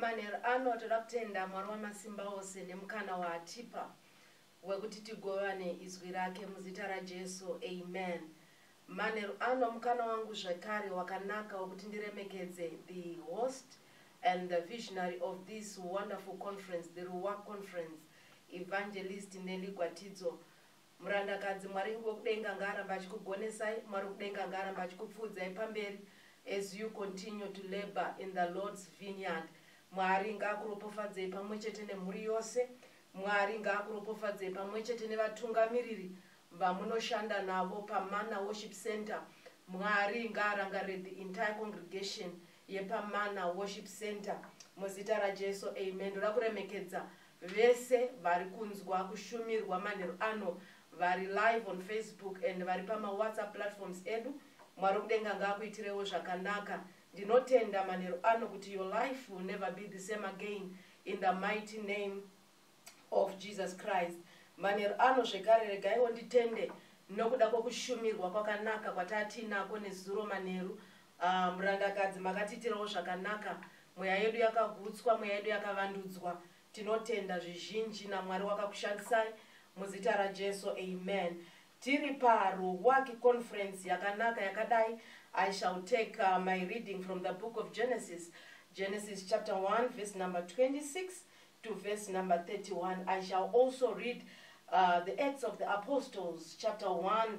manheru ano toda kutenda mwari wamasimba ose nemukana waatipa wekuti tigovane izwi rake muzita rajesu amen manheru ano mukana wangu zvekare wakanaka wekuti ndiremekedze the host and the visionary of this wonderful conference the ruwa conference evangelist neligwatidzo Murandakadzi, Mwari wekudenga ngaaramba achikugonesai, Mwari wekudenga ngaaramba achikupfuudzai pamberi as you continue to labor in the Lord's vineyard. Mwari ngaakuropofadzei pamwechete nemhuri yose. Mwari ngaakuropofadzei pamwechete nevatungamiriri vamunoshanda navo paMana Worship Center. Mwari ngaarangarire the entire congregation yepaMana Worship Center muzita raJesu. Amen. Ndoda kuremekedza Vese vari kunzwa kushumirwa manheru ano vari live on Facebook and vari pama WhatsApp platforms edu. Mwari wekudenga ngaakuitirewo zvakanaka. Ndinotenda manheru ano kuti your life will never be the same again in the mighty name of Jesus Christ. Manheru ano zvekare regaiwo nditende nokuda kwokushumirwa kwakanaka kwatatiinako nezuro manheru Ah, murandakadzi makatiitirawo zvakanaka mweya yedu yakagutswa mweya yedu yakavandudzwa tinotenda zvizhinji namwari wakakushandisai muzita rajesu amen tiri paruwaki conference yakanaka yakadai i shall take uh, my reading from the book of genesis genesis chapter 1 verse number 26 to verse number 31 i shall also read uh, the acts of the apostles chapter 1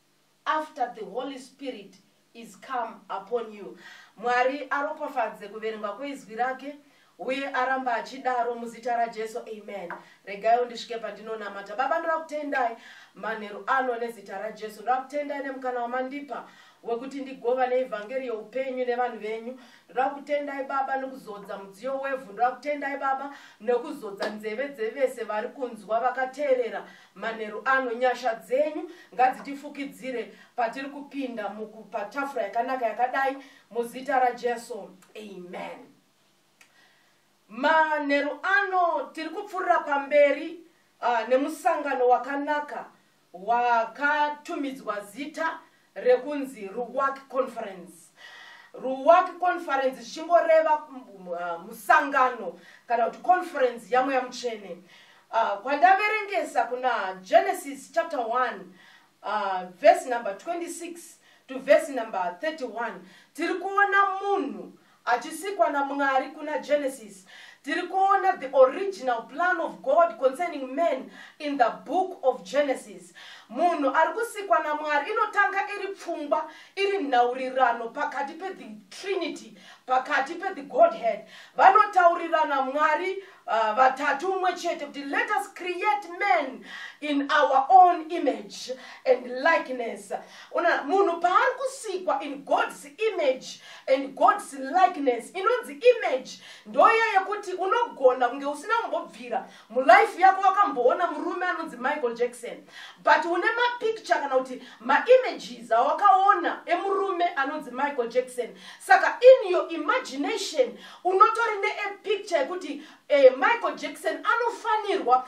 after the holy spirit is come upon you mwari aropafadze kuverengwa kweizwi rake uye aramba achidaro muzita rajesu amen regaiwo ndisvike pandinonamata baba ndoda kutendai manheru ano nezita rajesu ndoda kutendai nemukana wamandipa wekuti ndigova neevhangeri yeupenyu nevanhu venyu ndoda kutendai baba nekuzodza mudziyo wevhu ndoda kutendai baba nekuzodza nzeve dzevese vari kunzwa vakateerera manheru ano nyasha dzenyu ngadzitifukidzire patiri kupinda mukupatafura yakanaka yakadai muzita rajesu amen manheru ano tiri kupfuurira pamberi uh, nemusangano wakanaka wakatumidzwa zita rekunzi ruwak conference ruwak conference zvichingoreva uh, musangano kana kuti conference yamweya mutsvene uh, kwandaverengesa kuna genesis chapter 1 uh, verse number 26 to verse number 31 tiri kuona munhu achisikwa naMwari kuna Genesis, tiri kuona the original plan of God concerning man in the book of Genesis. Munhu ari kusikwa naMwari inotanga iri pfungwa, iri nhaurirano pakati pe the Trinity, pakati pe the Godhead. Vanotaurirana Mwari uh, vatatu umwe chete kuti let us create men in our own image and likeness ona munhu paari kusikwa in god's image and god's likeness inonzi image ndoya yekuti unogona kunge usina kumbobvira mulife yako wakamboona murume anonzi michael jackson but une mapicture kana kuti maimages awakaona emurume anonzi michael jackson saka in your imagination unotori neepicture yekuti eh, michael jackson anofanirwa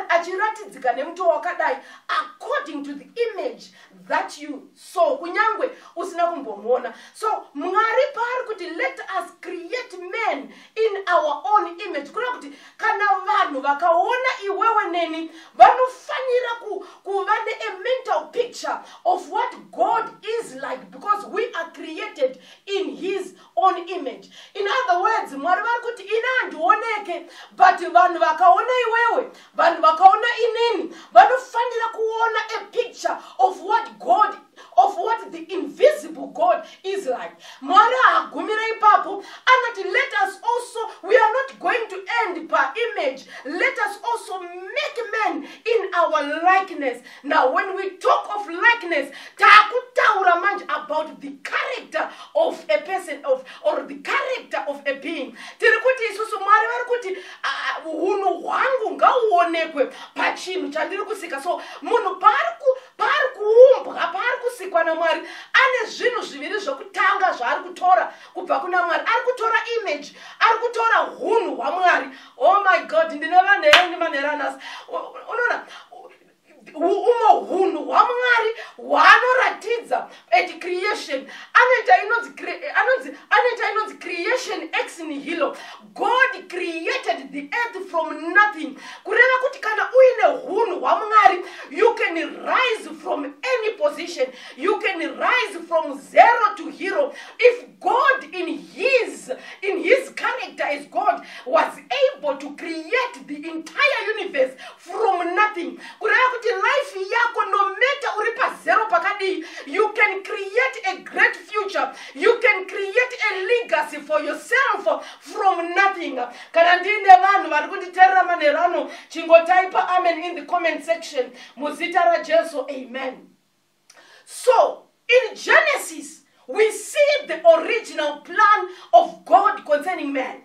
achiratidzika nemuto wakadai according to the image that you saw kunyange usina kumbomuona so mwari paari kuti let us create man in our own image kureva kuti kana vanhu vakaona iwewe neni vanofanira ku, kuva neamental picture of what god is like because we are created in his own image in other words mwari vari kuti ini handioneke but vanhu vakaona iwewe vanhu vakaona inini vanofanira kuona a picture of what god of what the invisible god is like mwari haagumira ipapo anoti let us also we are not going to end paimage let us also make man in our likeness now when we talk of likeness taakutaura manje about the character of a person of or the character of a being tiri kuti isusu mwari vari kuti hunhu uh, hwangu ngauonekwe pachinhu chandiri kusika so munhu paari paari kuumbwa paari kusikwa namwari ane zvinhu zviviri zvokutanga zvaari kutora kubva kuna mwari ari kutora image ari kutora hunhu hwamwari oh my god ndine vanhu endi manheranasi unoona umwe hunhu hwamwari hwaanoratidza at creation anoita inonzi anonzi anoita inonzi creation ex nihilo god created the earth from nothing kureva kuti kana uine hunhu hwamwari you can rise from any position you can rise from zero to hero if god in his in his character as god was able to create the entire universe from nothing kureva kuti life yako no matter uri pazero pakadii you can create a great future you can create a legacy for yourself from nothing kana ndiine vanhu vari kunditerera manhero ano chingotaipa amen in the comment section muzita rajesu amen So, in Genesis, we see the original plan of God concerning man.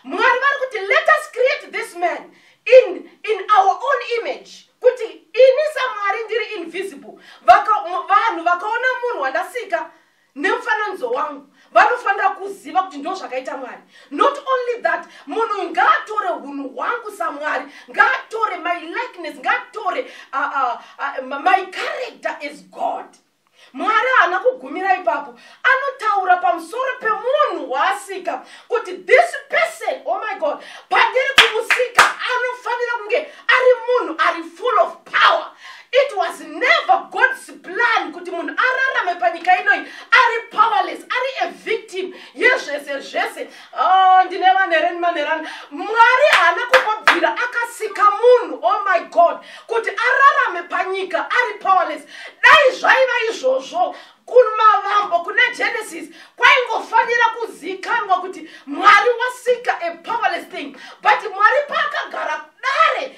Mwari vari kuti let us create this man in, in our own image kuti ini samwari ndiri invisible Vaka- mu- vanhu vakaona munhu wandasika nemufananidzo wangu vanofanira kuziva kuti ndo zvakaita mwari not only that munhu ngaatore hunhu hwangu samwari ngaatore my likeness ngaatore uh, uh, uh, my character is god mwari haana kugumira ipapo anotaura pamusoro pemunhu waasika kuti this person oh my god pandiri kumusika anofanira kunge ari munhu ari full of power it was never god's plan kuti munhu ararame panyika inoi ari powerless ari a victim yezvese zvese oh, ndine vanereni manerani mwari haana kungobvira akasika munhu oh my god kuti ararame panyika ari powerless dai zvaiva izvozvo kumavambo kune genesis kwaingofanira kuzikanwa kuti mwari wasika a powerless thing but mwari paakagara dare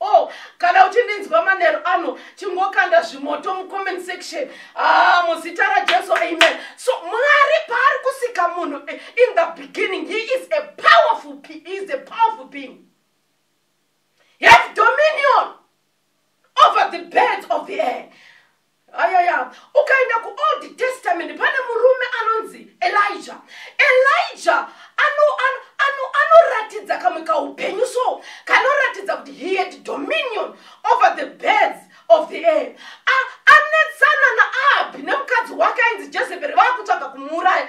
Oh, kana uchindinzwa manheru ano chingokanda zvimoto mucomment section ah, muzita rajesu amen so mwari paari kusika munhu eh, in the beginning he is a powerful he is a powerful being he has dominion over the birds of the air ayaya ukaenda kuold testament pane murume anonzi elija elija anoratidza kamwe kaupenyu so kanoratidza kuti he had dominion over the birds of the air anetsana naabi nemukadzi wake ainzi jezeberi vaakutsvaga kumuuraya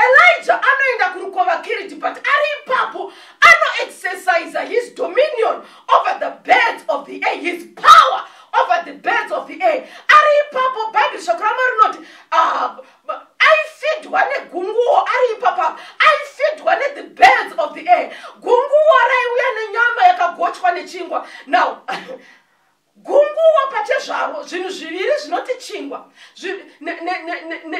elija anoenda kurukova kiriti but ari ipapo anoexercisa his dominion over the birds of the air his power over the birds of the air ari ipapo bhaibheri shoko ramwari rinoti ah, aifidwa negunguwo ari ipapa aifidwa nethe birds of the air gunguwo raiuya nenyama yakagochwa nechingwa now gunguwo pachezvaro zvinhu zviviri zvinoti chingwa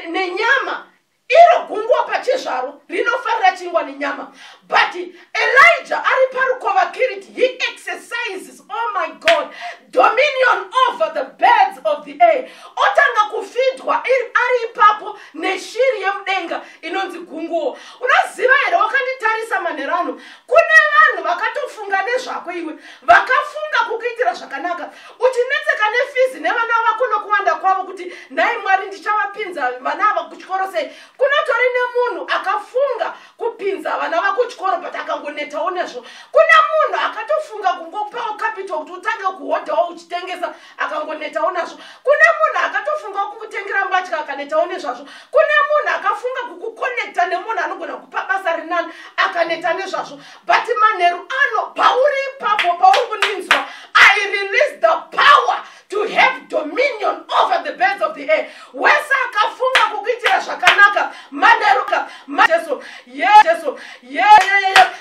nenyama iro gungwa pachezvaro rinofarira chingwa nenyama but elijah ari parukova kiriti he exercises oh my god dominion over the birds of the air otanga kufidwa ari ipapo neshiri yemudenga inonzi gunguwo unoziva here wakanditarisa manhero ano kune vanhu vakatofunga nezvako iwe vakafunga kukuitira zvakanaka uchinetseka nefizi nevana vako nokuwanda kwavo kuti nhai mwari ndichavapinza vana ava kuchikoro sei kunotori nemunhu akafunga kupinza vana vako chikoro but akangonetawo nezvo kune munhu akatofunga kungopawo capital kuti utange kuhodhawo uchitengesa akangonetawo nazvo kune munhu akatofunga kukutengera mbatya akanetawo nezvazvo kune munhu akafunga kukukonekta nemunhu anogona kupa basa rinani akaneta nezvazvo but manheru ano pauri ipapo pauri kundinzwa i release the power to have dominion over the birds of the air wese akafunga kukuitira zvakanaka manheru ka jesu ye jesu ye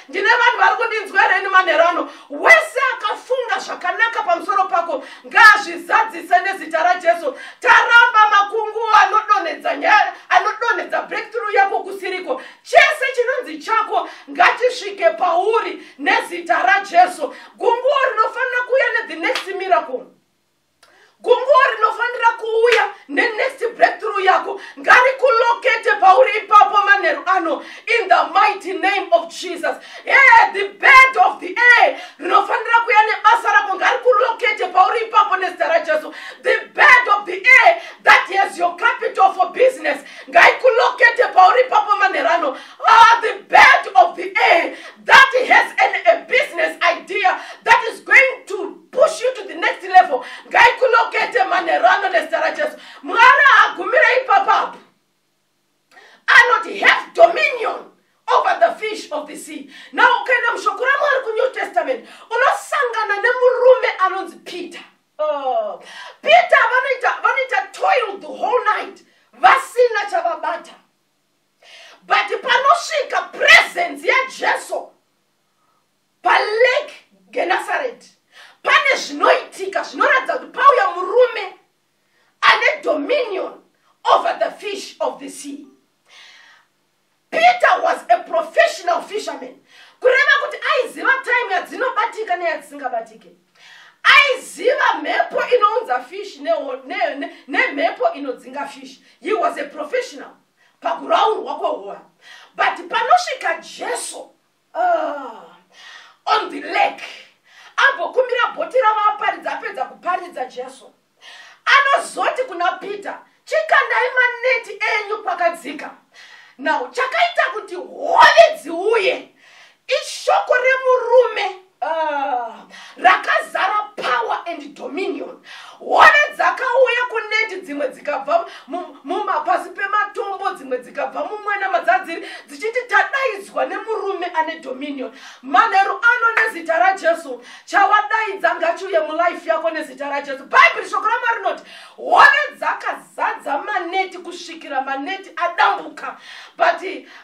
ndine vanhu vari kundinzwa here ini manheru ano wese akafunga zvakanaka pamusoro pako ngaazvizadzise nezita rajesu taramba makunguwo anodonhedza nyaya anodonhedza breakthrough yako kusiriko chese chinonzi chako ngatisvike pauri nezita rajesu gunguo rinofanira kuuya nethe next miracle gunguo rinofanira kuuya nenext breakthrough yako ngarikulokete pauri ipapo manheru ano in the mighty name of jesus yeah, the bed of the air rinofanira kuya nebasa rako ngarikulokete pauri ipapo nezita rajesu the bed of the air that has your capital for business ngaikulokete pauri ipapo manherano ah, the bed of the air that has an, a business idea that is going to push you to the next level ngaikulokete manherano nezita rajesu mwana agumira ipapapo anoti have dominion over the fish of the sea now ukaenda mushoko ramwari kunew testament unosangana nemurume anonzi peter Oh. peter vanoita vanoita toil the whole night vasina chavabata but panosvika presence yajesu palake genasareti pane zvinoitika zvinoratidza kuti pauya murume ane dominion over the fish of the sea peter was a professional fisherman kureva kuti aiziva time yadzinobatika neyadzisingabatike aiziva mhepo inounza fish nemhepo ne, ne, ne, ne inodzinga fish he was a professional pakuraurwa kwehora but panosvika jesu Ah, on the lake ambokumbira bhoti ravaparidza apedza kuparidza jesu anozoti kuna peter chikandai maneti enyu kwakadzika now chakaita kuti hove dziuye ishoko remurume rakazara power and dominion hove dzakauya kuneti dzimwe dzikabva mumapasi pematombo dzimwe dzikabva mumwena madzadziri dzichiti tadaidzwa nemurume ane dominion manheru ano nezita rajesu chawadaidza ngachiuye mulife yako nezita rajesu bhaibheri shoko ramwari rinoti hove dzakazadza maneti kusvikira maneti adambuka but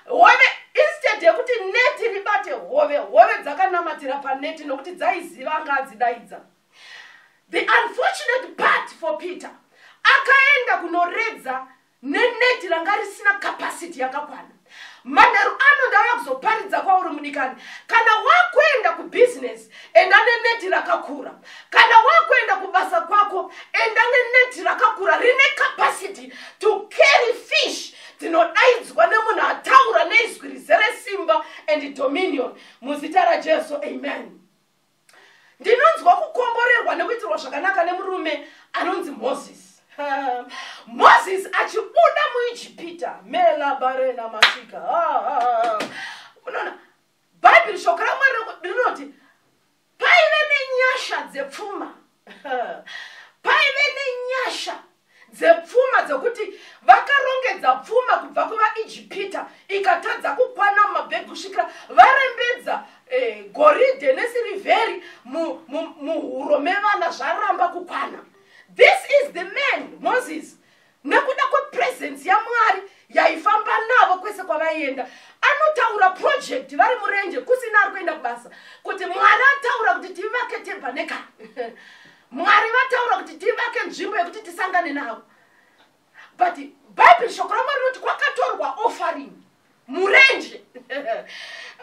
hove instead yekuti neti ribate hove hove dzakanamatira paneti nokuti dzaiziva anga adzidaidza the unfortunate part for peter akaenda kunoredza neneti ranga risina capacity yakakwana manheru ano ndauya kuzoparidza kwauri mudikani kana wakuenda kubhizinesi enda neneti rakakura kana wakuenda kubasa kwako enda neneti rakakura rine capacity to carry fish tinodaidzwa nemunhu ataura neizwi rizere simba and dominion muzita rajesu amen ndinonzwa kukomborerwa nekuitirwa zvakanaka nemurume anonzi moses moses achibuda muijipita melabarena masika unoona bhaibheri shoko ramwari rinoti paive nenyasha dzepfuma paive nenyasha dzepfuma dzekuti vakarongedza pfuma kubva kuvaijipita ikatadza kukwana mumabhegi kusvikira varembedza eh, goridhe nesirivheri muhuro mevana zvaramba kukwana this is the man moses nekuda kwepresence yamwari yaifamba navo kwese kwavaienda anotaura project vari murenje kusina ari kuenda kubasa kuti mwari ataura kuti tivake tebaneka mwari vataura kuti tivake nzvimbo yekuti tisangane navo but bhaibheri shoko ramwari rinoti kwakatorwa offering murenje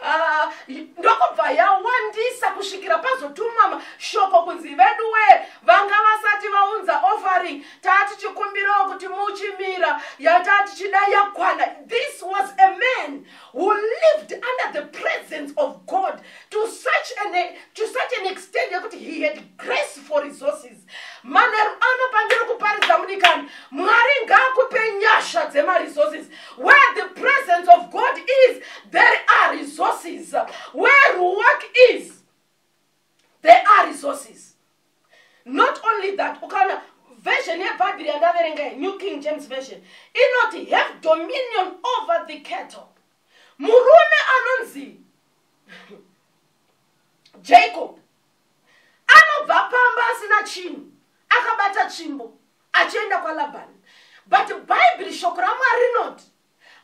ah, ndokubva yawandisa kusvikira pazotumama shoko kunzi veduwe vanga vasati vaunza offering taa tichikumbirawo kuti muchimira yataa tichida yakwana this was a man who lived under the presence of god to such an, to such an extent yekuti he had grace for resources manheru ano pandiri kuparidza mudikani mwari ngaakupe nyasha dzemaresources where the presence of god is there are resources where ruwak is there are resources not only that ukaona version yebhaibheri yandaverenga new king james version inoti have dominion over the cattle murume anonzi jacob anobva pamba asina chinhu akabata tsvimbo achienda kwalabhani but bhaibheri shoko ramwari rinoti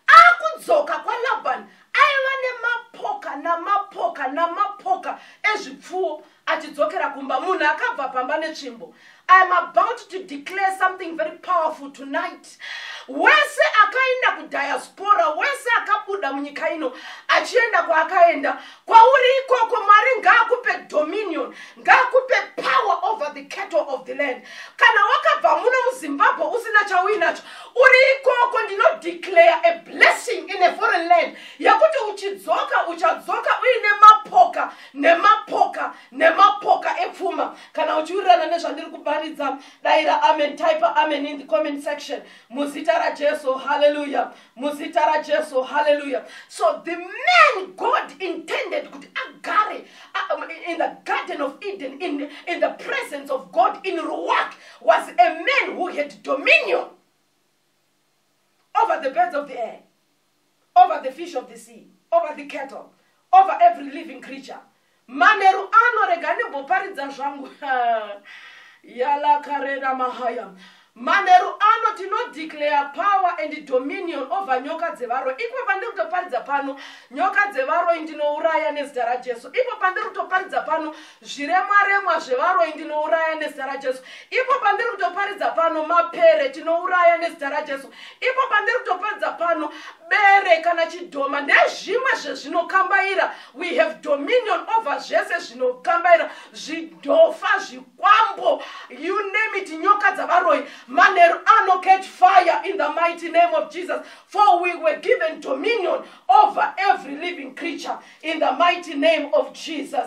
akudzoka kwalabhani aiva nemapoka namapoka namapoka ezvipfuwo achidzokera kumba munhu akabva pamba netsvimbo I'm about to declare something very powerful tonight. Wese akaenda ku diaspora, wese akabuda munyika ino achienda kwaakaenda. Kwauri ikoko Mwari ngaakupe dominion, ngaakupe power over the cattle of the land. Kana wakabva muno muZimbabwe usina chauinacho, uri ikoko ndino declare a blessing in a foreign land yekuti uchidzoka uchadzoka uine mapoka nemapoka nemapoka epfuma kana uchiwirirana nezvandiri kuparidza daira amen type amen in the comment section muzita rajesu haleluya muzita rajesu haleluya so the man god intended kuti agare uh, um, in the garden of eden in, in the presence of god in ruwak was a man who had dominion over the birds of the air over the fish of the sea over the cattle over every living creature manheru ano rega ndimboparidza zvangu yalakarena mahaya manheru ano tinodeclare power and dominion over nyoka dzevaroi ipo pandiri kutoparidza pano nyoka dzevaroi ndinouraya nezita rajesu ipo pandiri kutoparidza pano zviremwa remwa zvevaroyi ndinouraya nezita rajesu ipo pandiri kutoparidza pano mapere tinouraya nezita rajesu ipo pandiri kutoparidza pano bere kana chidhoma nezvimwe zvezvinokambaira we have dominion over zvese zvinokambaira zvidhofa zvikwambo you name it nyoka dzavaroyi manheru ano catch fire in the mighty name of jesus for we were given dominion over every living creature in the mighty name of jesus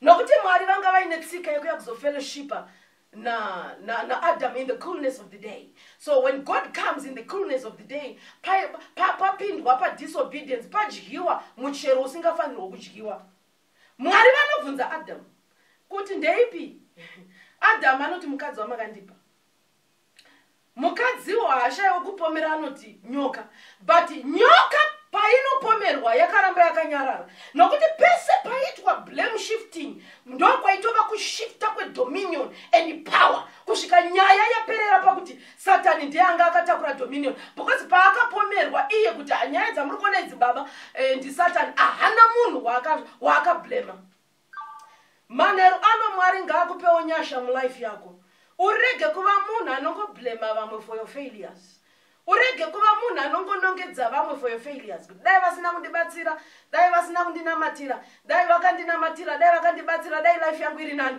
nokuti mwari vanga vaine tsika yekuya kuzofellowshipa naadam na, na in the coolness of the day so when god comes in the coolness of the day papindwa pa, pa, pa padisobedience padyiwa muchero usingafanirwa kudyiwa mwari vanobvunza adamu kuti ndeipi adamu anoti mukadzi wamakandipa mukadziwo haashaiwo kupomera anoti nyoka but nyoka painopomerwa yakaramba yakanyarara nokuti pese paiitwa blame shifting ndokwaitova kushifta kwedominion and power kusvika nyaya yaperera pakuti satani ndiye anga akatakura dominion because paakapomerwa iye kuti ah, nyaya dzamuri kuona idzi baba eh, ndisatani ahana munhu waakablema waka manheru ano mwari ngaakupewo nyasha mulife yako urege kuva munhu anongoblema vamwe for your failures urege kuva munhu anongonongedza vamwe for your failures kuti dai vasina kundibatsira dai vasina kundinamatira dai vakandinamatira dai vakandibatsira dai life yangu iri nani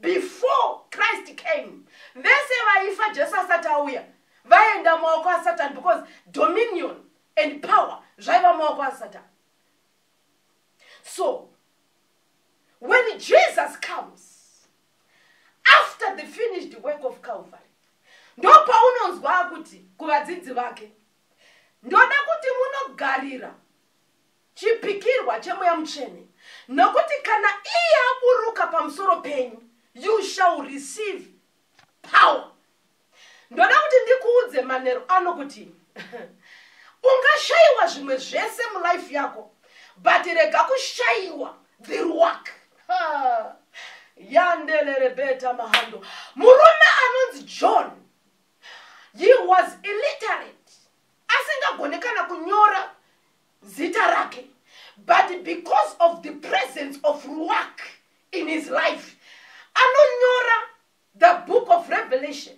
before christ came vese vaifa jesu asati auya vaenda maoko asatan because dominion and power zvaiva maoko asatan so when jesus comes after the finished work of calvary ndopaunonzwa kuti kuvadzidzi vake ndoda kuti munogarira chipikirwa chemweya mutsvene nokuti kana iye aburuka pamusoro penyu you shall receive power ndoda kuti ndikuudze manero ano kuti ungashayiwa zvimwe zvese mulife yako but rega kushayiwa the work yandelerebeta mahando murume anonzi john he was illiterate asingagone kana kunyora zita rake but because of the presence of ruak in his life anonyora the book of revelation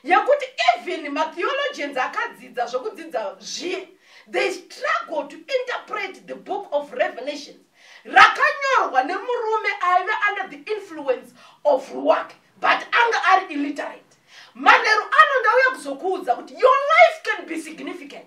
yekuti even matheologians akadzidza zvekudzidza zviye they struggle to interpret the book of revelation rakanyorwa nemurume aive under the influence of ruak but anga ari illiterate manheru ano ndauya kuzokuudza kuti your life can be significant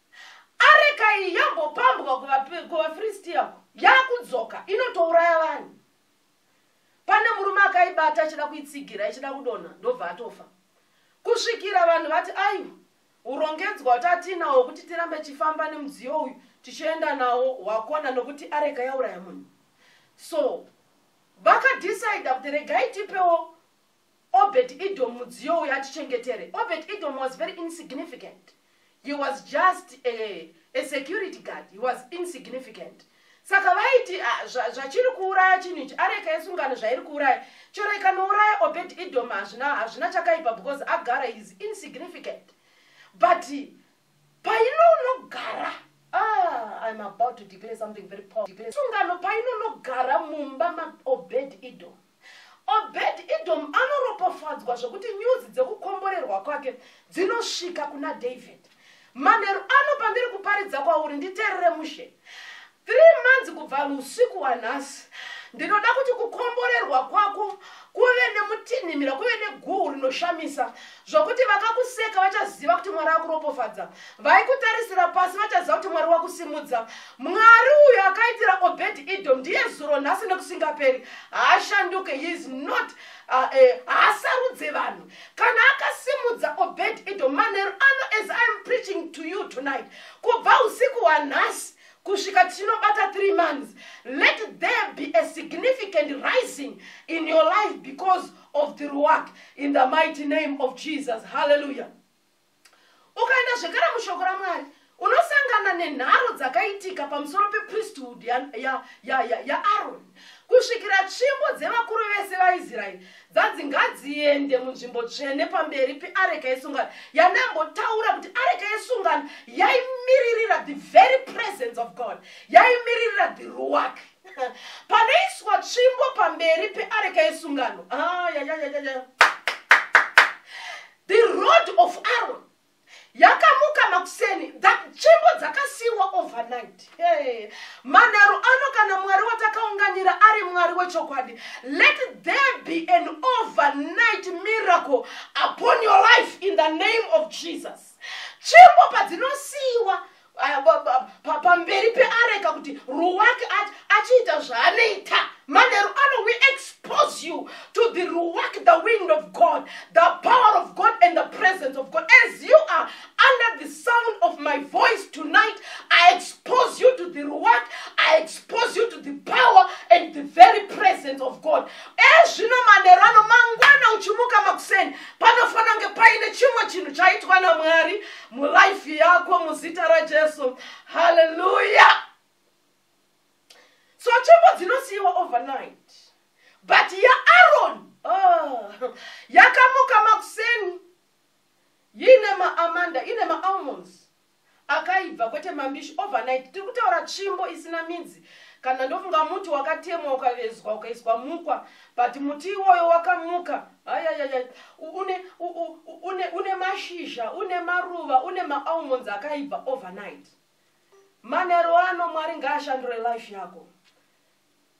areka iyi yambopambwa kuvafiristiya uko yakudzoka inotouraya vanhu pane murume akaibata achida kuitsigira ichida kudonha ndobva atofa kusvikira vanhu vati aiwa urongedzwa kuti atiinawo kuti tirambe tichifamba nemudziyo uyu tichienda nawo wakona nokuti areka yauraya munhu so vakadecida kuti regai tipewo Obed Edom mudziyo uyo atichengetere. Obed Edom was very insignificant. He was just a, a security guard. He was insignificant. Saka vaiti ah, zvachiri kuuraya chinhu ichi areka yesungano zvairi kuuraya chero ikanouraya Obed Edom hazvina hazvina chakaipa because agara is insignificant. But painonogara ah, I'm about to declare something very powerful. Sungano painonogara mumba ma Obed Edom. Obed Edom anoropofadzwa zvokuti nyuzi dzekukomborerwa kwake dzinosvika kuna David. Manheru ano pandiri kuparidza kwauri nditerere mushe. Three months kubva usiku wanhasi ndinoda kuti kukomborerwa kwako kuve nemutinhimira kuve neguhu rinoshamisa zvokuti vakakuseka vachaziva kuti mwari akuropofadza vaikutarisira pasi vachaziva kuti mwari wakusimudza mwari uyo akaitira obedi idom ndiye zuro nhasi nekusingaperi haashanduke heis not uh, eh, haasarudze uh, uh, vanhu kana akasimudza obedi idom manheru ano as iam preaching to you tonight kubva usiku hwanhasi kusvika tinobata three months let there be a significant rising in your life because of the ruach in the mighty name of jesus hallelujah ukaenda zvekare mushoko ramwari unosangana nenharo dzakaitika pamusoro pepriesthood yaaroni ya, ya, ya, ya kusvikira tsvimbo dzevakuru vese vaisraeri dzanzi ngadziende munzvimbo tsvene pamberi peareka yesungano yandambotaura kuti areka yesungano yaimiririra the very presence of god yaimiririra the ruwake panoiswa tsvimbo pamberi peareka yesungano ah, the road of aron yakamuka makuseni tsvimbo dzakasiiwa overnight hey. manharo ano kana mwari watakaunganira ari mwari wechokwadi let there be an overnight miracle upon your life in the name of jesus tsvimbo padzinosiiwa pamberi peareka kuti ruwake ati achiita zvaanoita manheru ano we expose you to the ruwak the wind of god the power of god and the presence of god as you are under the sound of my voice tonight i expose you to the ruwak i expose you to the power and the very presence of god ezvino eh, manheru ano mangwana uchimuka makuseni panofanira kunge paine chimwe chinhu chaitwa namwari muraifi yako muzita rajesu haleluya so tsvimbo dzinosiyiwa overnight but yaaroni oh, yakamuka makuseni yine maamanda ine maalmonds akaibva kwete mambishi overnight tiri kutaura tsvimbo isina midzi kana ndofunga muti wakatemwa ukavezwa ukaiswa mukwa but muti iwoyo wakamuka ayayaya une, une, une mashizha une maruva une maalmonds akaibva overnight manero ano mwari ngaashandure life yako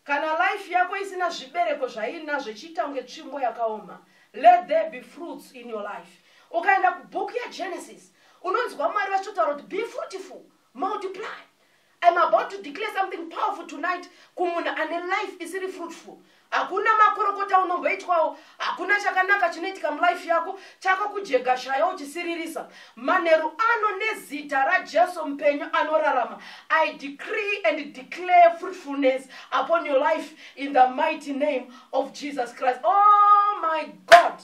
kana life yako isina zvibereko zvainazvo ichiita kunge tsvimbo yakaoma let there be fruits in your life ukaenda kubhuku yegenesis unonzwa mwari vachitotaura kuti be fruitful multiply I'm about to declare something powerful tonight kumunhu ane life isiri fruitful hakuna makorokota unomboitwawo hakuna chakanaka chinoitika mulife yako chako kujega shaya uchisiririsa manheru ano nezita rajesu mupenyu anorarama i decree and declare fruitfulness upon your life in the mighty name of jesus christ oh my god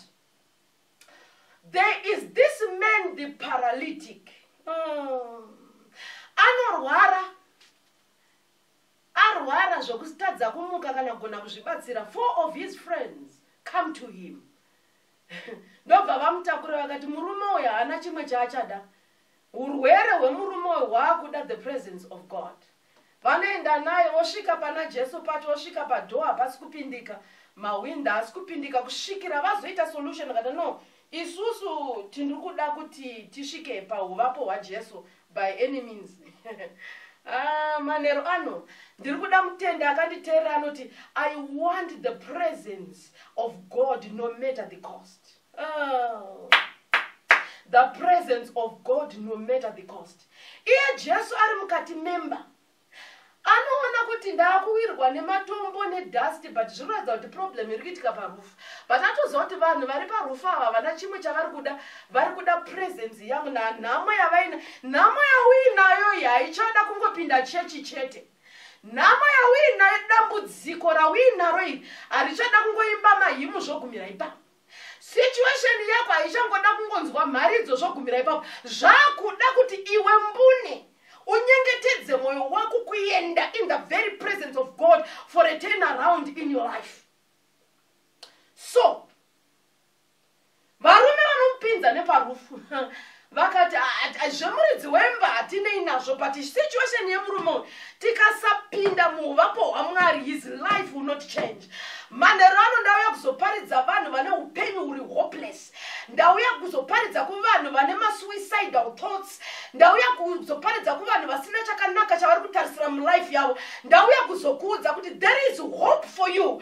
there is this man the paralytic mm. anorwara arwara zvekutadza kumuka kana kugona kuzvibatsira four of his friends come to him ndobva vamutakura vakati murume uyo haana chimwe chaachada urwere hwemurume uyo hwaakuda the presence of god vanoenda naye vosvika pana jesu pacho vosvika padhoo hapasi kupindika mahwinda haasi kupindika kusvikira vazoita solution vakati no isusu tiri kuda kuti tisvike pauvapo hwajesu by any means ah, manhero ano ndiri kuda mutende akanditeerera anoti i want the presence of god no matter the cost Oh. the presence of god no matter the cost iye jesu ari mukati memba anoona kuti ndaakuwirwa nematombo nedust but zviri kuratidza kuti problem iri kuitika parufu but atoziva kuti vanhu vari parufu ava vana chimwe chavari kuda vari kuda presence yangu nanhamo yavaina nhamo yauinayo iyi haichada kungopinda chechi chete nhamo yauinayo dambudziko rauinaro iri harichada kungoimba mahimu zvogumira ipapo situation yako haichangoda kungonzwa mharidzo zvogumira ipapo zvakuda kuti iwe mbune unyengetedze mwoyo wako kuenda in the very presence of god for a turn around in your life so varume vanomupinza neparufu vakati zvemuridzi wemba hatinei nazvo but situation yemurume uyu tikasapinda muuvapo hwamwari his life will not change manhero ano ndauya kuzoparidza vanhu vane upenyu huri hopeless ndauya kuzoparidza kuvanhu vane masuicidal thoughts ndauya kuzoparidza kuvanhu vasina chakanaka chavari kutarisira mulife yavo ndauya kuzokuudza kuti there is hope for you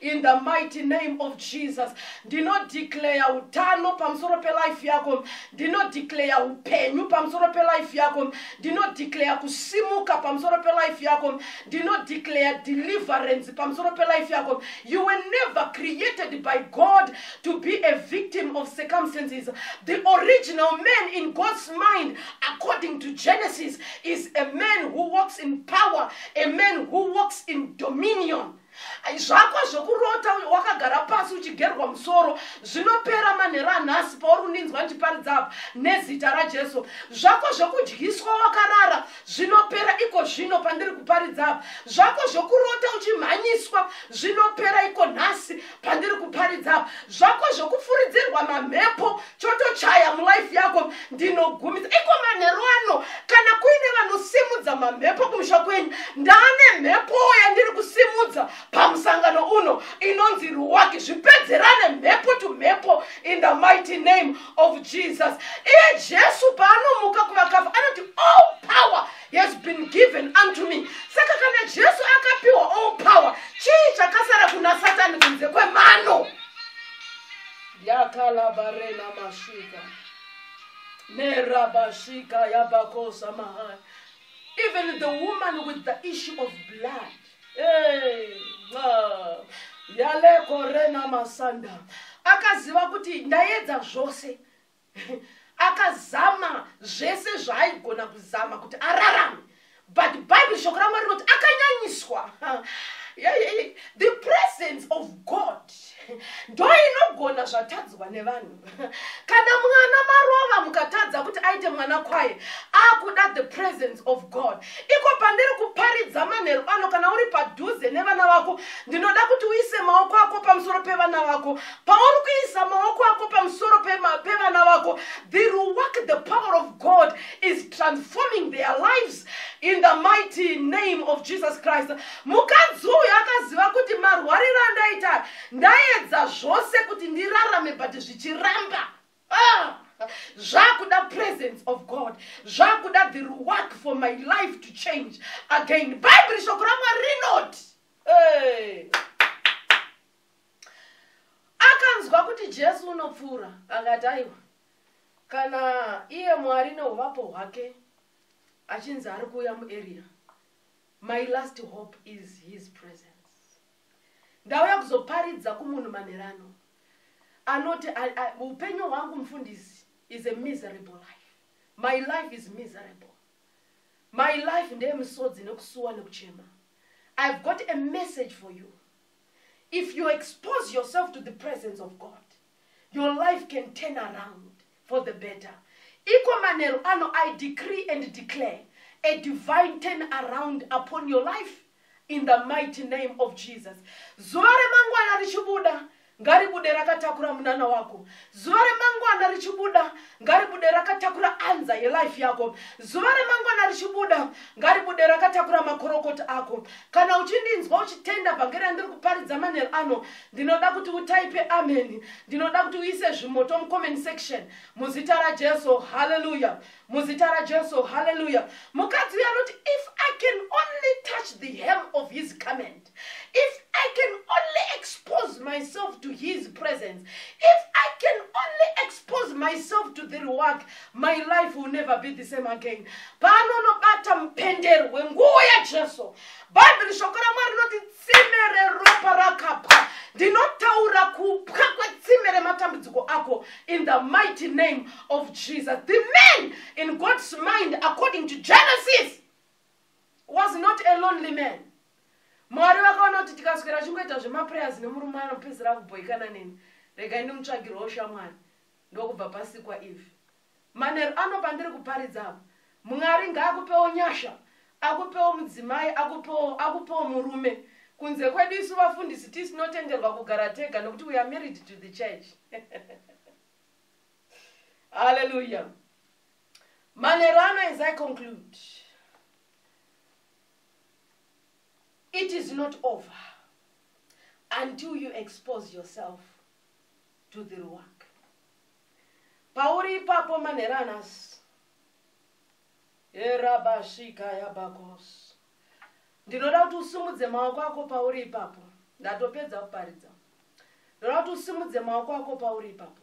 In the mighty name of Jesus, ndinodeclare utano pamusoro pelife yako, ndinodeclare upenyu pamusoro pelife yako, ndinodeclare kusimuka pamusoro pelife yako, ndinodeclare deliverance pamusoro pelife yako. You were never created by God to be a victim of circumstances. The original man in God's mind, according to Genesis, is a man who walks in power, a man who walks in dominion. zvako zvekurota wakagara pasi uchigerwa musoro zvinopera manhero anhasi pauri kundinzwa ndichiparidza apa nezita rajesu zvako zvekudyiswa wakarara zvinopera iko zvino pandiri kuparidza apa zvako zvekurota uchimhanyiswa zvinopera iko nhasi pandiri kuparidza apa zvako zvekufuridzirwa mamhepo chotochaya mulife yako ndinogumisa iko manheru ano kana kuine vanosimudza mamhepo kumusha kwenyu ndaane mhepo yandiri kusimudza pamusangano uno inonzi ruwaki zvipedzerane mhepo to mhepo in the mighty name of jesus iye jesu paanomuka kuvakafa anoti all oh, power has been given unto me saka kana jesu akapiwa all oh, power chii chakasara kuna satani kunze kwemano yakalabarena mashika nerabashika yabakosa mahai even the woman with the issue of blood hey, uh, yalekorena masanda akaziva kuti ndaedza zvose akazama zvese zvaaigona kuzama kuti ararame but bible shoko ramwari rinoti akanyanyiswa the presence of god ndo inogona zvatadzwa nevanhu kana mwana marova mukatadza kuti aite mwana kwaye akuda the presence of god iko pandiri kuparidza manheru ano kana uri padhuze nevana vako ndinoda kuti uise maoko ako pamusoro pevana vako pauri kuisa maoko ako pamusoro pevana vako the work the power of god is transforming their lives in the mighty name of jesus christ mukadzi uyu akaziva kuti marwariro andaita ndaedza zvose kuti ndirarame but zvichiramba ah! zvakuda presence of god zvakuda the work for my life to change again bhaibheri shoko ramwari rinoti hey. akanzwa kuti jesu unopfuura akati aiwa kana iye mwari neuvapo hwake achinzi ari kuuya muarea my last hope is his presence ndauya kuzoparidza kumunhu manherano anoti upenyu hwangu mufundisi is a miserable life my life is miserable my life ndeye misodzi nekusuwa nekuchema i've got a message for you if you expose yourself to the presence of god your life can turn around for the better iko manheru ano i decree and declare a divine turn around upon your life in the mighty name of jesus zuva remangwana richibuda ngaribude rakatakura munana wako zuva remangwana richibuda ngaribude rakatakura anza yelife yako zuva remangwana richibuda ngaribude rakatakura makorokoti ako kana uchindinzwa uchitenda vhangeri randiri kuparidza manhero ano ndinoda kuti utaipe ameni ndinoda kuti uise zvimoto mucomment section muzita rajesu haleluya muzita rajesu haleluya mukadzi uyo anoti if i can only touch the hem of his comment if i can only expose myself to his presence if i can only expose myself to the reward my life will never be the same again paanonobata mupendero wenguwo yajesu bhaibheri shoko ramwari rinoti tsime reropa rakapwa ndinotaura kupwa kwetsime rematambudziko ako in the mighty name of jesus the man in god's mind according to genesis was not a lonely man mwari vakaona kuti tikaswera chingoita zvemaprayers nemurume anopedzera kubhoikana neni regai ndimutsvagirwawo shamwari ndokubva pasikwa ivi manheru ano pandiri kuparidza apa mwari ngaakupewo nyasha akupewo mudzimai akupewo akupewo murume kunze kwedu isu vafundisi tisinotenderwa kugara tega nokuti we are married to the church haleluya Manheru ano as I conclude, it is not over until you expose yourself to the work. Pauri ipapo manheru anasi, erabashika yabakos, ndinoda kuti usimudze maoko ako pauri ipapo, ndatopedza kuparidza, ndinoda kuti usimudze maoko ako pauri ipapo.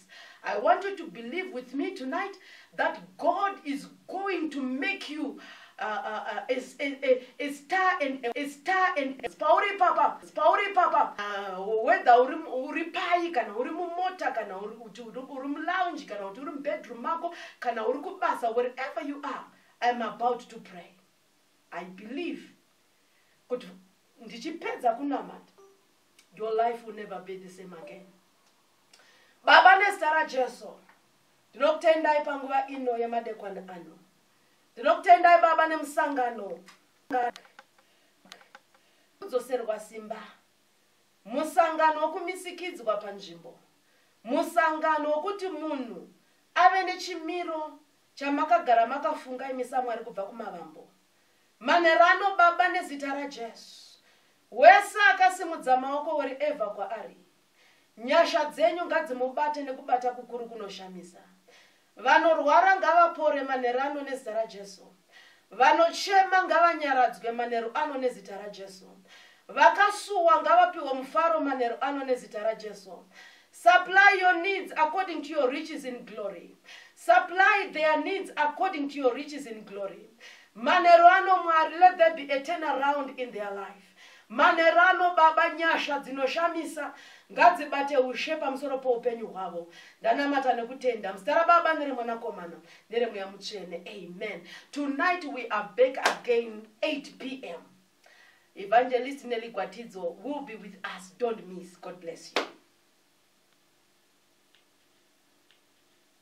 I want you to believe with me tonight that God is going to make you uh, uh, uh, a, a, a, a star and a, a star and a pauri papa pauri papa uh, whether uri uri pai kana uri mumota kana uri kuti uri mulounge kana kuti uri mubedroom mako kana uri kubasa wherever you are I am about to pray I believe kuti ndichipedza kunamata your life will never be the same again baba nezita rajesu ndinokutendai panguva ino yemadekwana ano ndinokutendai baba nemusangano kudzoserwa simba musangano wokumisikidzwa panzvimbo musangano wokuti munhu ave nechimiro chamakagara makafunga imi samwari kubva kumavambo manherano baba nezita rajesu wese akasimudza maoko wori evha kwaari Nyasha dzenyu ngadzimubate nekubata kukuru kunoshamisa. Vanorwara ngavapore manheru ano nezita raJesu. Vanochema ngavanyaradzwe manheru ano nezita raJesu. Vakasuwa ngavapiwe mufaro manheru ano nezita raJesu. Supply your needs according to your riches in glory. Supply their needs according to your riches in glory. Manheru ano Mwari, let there be a turnaround in their life. Manerano baba nyasha dzinoshamisa ngadzibate ushe pamusoro poupenyu hwavo ndanamata nekutenda muzita rababa neremwanakomana neremweya mutsvene amen tonight we are back again 8 pm evangelist nelly gwatidzo will be with us don't miss god bless you